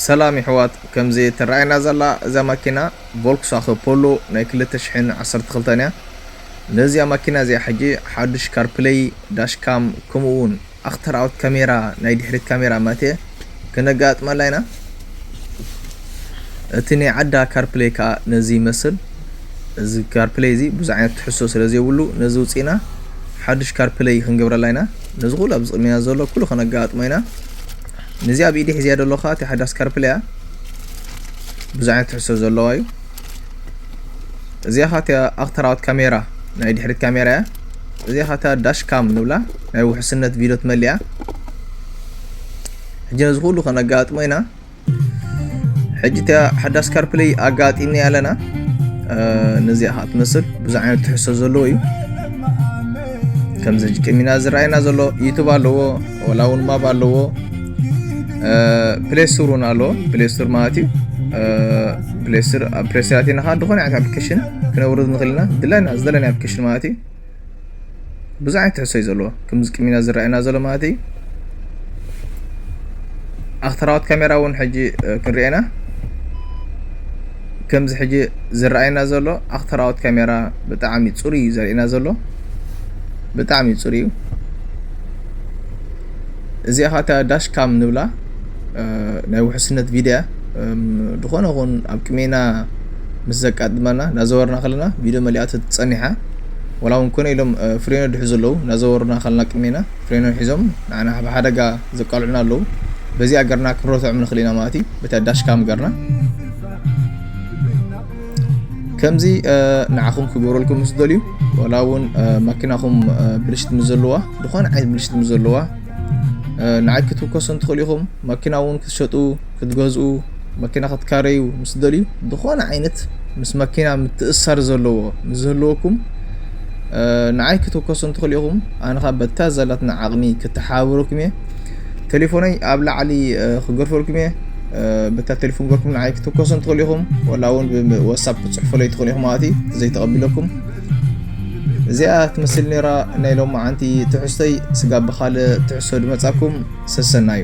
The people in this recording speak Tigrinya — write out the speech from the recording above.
ሰላም የሕዋት ከምዚ ትረኣየና ዘላ እዛ ማኪና ቮልክስዋኸ ፖሎ ናይ ክልተ ሽሕን ዓሰርተ ክልተን እያ ነዚኣ ማኪና እዚኣ ሕጂ ሓዱሽ ካርፕለይ ዳሽ ካም ከምኡ ውን ኣክተር ኣውት ካሜራ ናይ ድሕሪት ካሜራ ማቴ ከነጋጥመላ ኢና እቲ ናይ ዓዳ ካርፕለይ ከኣ ነዚ ይመስል እዚ ካርፕለይ እዚ ብዙሕ ዓይነት ትሕሶ ስለ ዘይብሉ ነዚ ውጽኢና ሓዱሽ ካርፕለይ ክንገብረላ ኢና ነዚ ኩሉ ኣብዚ ቅድሜና ዘሎ ኩሉ ከነጋጥሞ ኢና ነዚ ኣብ ኢደይ ሒዘያ ደለኹ ከኣ እቲ ሓዳስ ካርፕለ እያ ብዙሕ ዓይነት ትሕዝቶ ዘለዋ እዩ እዚኣ ከኣ እቲኣ ኣክተራዊት ካሜራ ናይ ድሕሪት ካሜራ እያ እዚኣ ከኣ እታ ዳሽ ካም ንብላ ናይ ውሕስነት ቪድዮ ትመልእ እያ ሕጂ ነዚ ኩሉ ከነጋጥሞ ኢና ሕጂ እቲኣ ሓዳስ ካርፕለይ ኣጋጢምኒ ኣለና ነዚኣ ከዓ ትመስል ብዙሕ ዓይነት ትሕዝቶ ዘለዎ እዩ ከምዚ ጅቅሚና ዝረኣየና ዘሎ ዩቱብ ኣለዎ ወላ እውን ማብ ኣለዎ ፕሌስቶር እውን ኣለዎ ፕሌስቶር ማለት እዩ ፕሌስቶር ኣብ ፕሌስቶር ኣቲና ከዓ ዝኾነ ዓይነት ኣፕሊኬሽን ክነውርድ ንኽእል ኢና ድላይና ዝደለናዮ ኣፕሊኬሽን ማለት እዩ ብዙሕ ዓይነት ትሕዝቶ እዩ ዘለዎ ከምዚ ቅሚና ዝረኣየና ዘሎ ማለት እዩ ኣክተራዎት ካሜራ እውን ሕጂ ክንሪኤና ከምዚ ሕጂ ዝረኣየና ዘሎ ኣክተራዎት ካሜራ ብጣዕሚ ጽሩይ እዩ ዘርእየና ዘሎ ብጣዕሚ ጽሩይ እዩ እዚኣ ካታ ዳሽ ካም ንብላ ናይ ውሕስነት ቪድያ ዝኾነ ኹን ኣብ ቅሜና ምስ ዘቃድመና ናዘወርና ከለና ቪድዮ መሊኣ ትጸኒሓ ወላ እውን ኮነ ኢሎም ፍሬኖ ድሕዙ ኣለዉ ናዘወርና ከለና ቅሜና ፌኖ ሒዞም ንዓና ካብ ሓደጋ ዘቃልዑና ኣለው በዚኣ ገርና ክንረትዖም ንክእል ኢና ማለት እዩ በታ ዳሽ ካም ገርና ከምዚ ንዓኹም ክገብረልኩም ምስ ደልዩ ዋላ እውን ማኪናኹም ብልሽት ምስ ዘለዋ ዝኾነ ዓይነት ብልሽት ምስ ዘለዋ ንዓይ ክትውከሱ እንትኽእሉ ኢኹም ማኪና እውን ክትሸጡ ክትገዝኡ፣ መኪና ክትካረዩ ምስ ትደልዩ ዝኾነ ዓይነት ምስ መኪና ምትእስሳር ዘለዎ ምስ ዝህልወኩም ንዓይ ክትውከሱን ትኽእሉ ኢኹም ኣነ ኻብ በታ ዘላትና ዓቕሚ ክተሓባበረኩም እየ ቴሌፎነይ ኣብ ላዕሊ ክገርፈልኩም እየ በታ ቴሌፎን ገርኩም ንዓይ ክትውከሱን ትኽእሉ ኢኹም ወላ እውን ብወሳብ ክትፅሕፈለይ ትኽእሉ ኢኹም ማለት እዩ ዘይተቐቢለኩም እዚኣ ትመስል ነራ ናይ ሎማዓንቲ ትሕዝቶይ ስጋብ ብኻልእ ትሕዝቶ ድመፃኩም ሰሰናዩ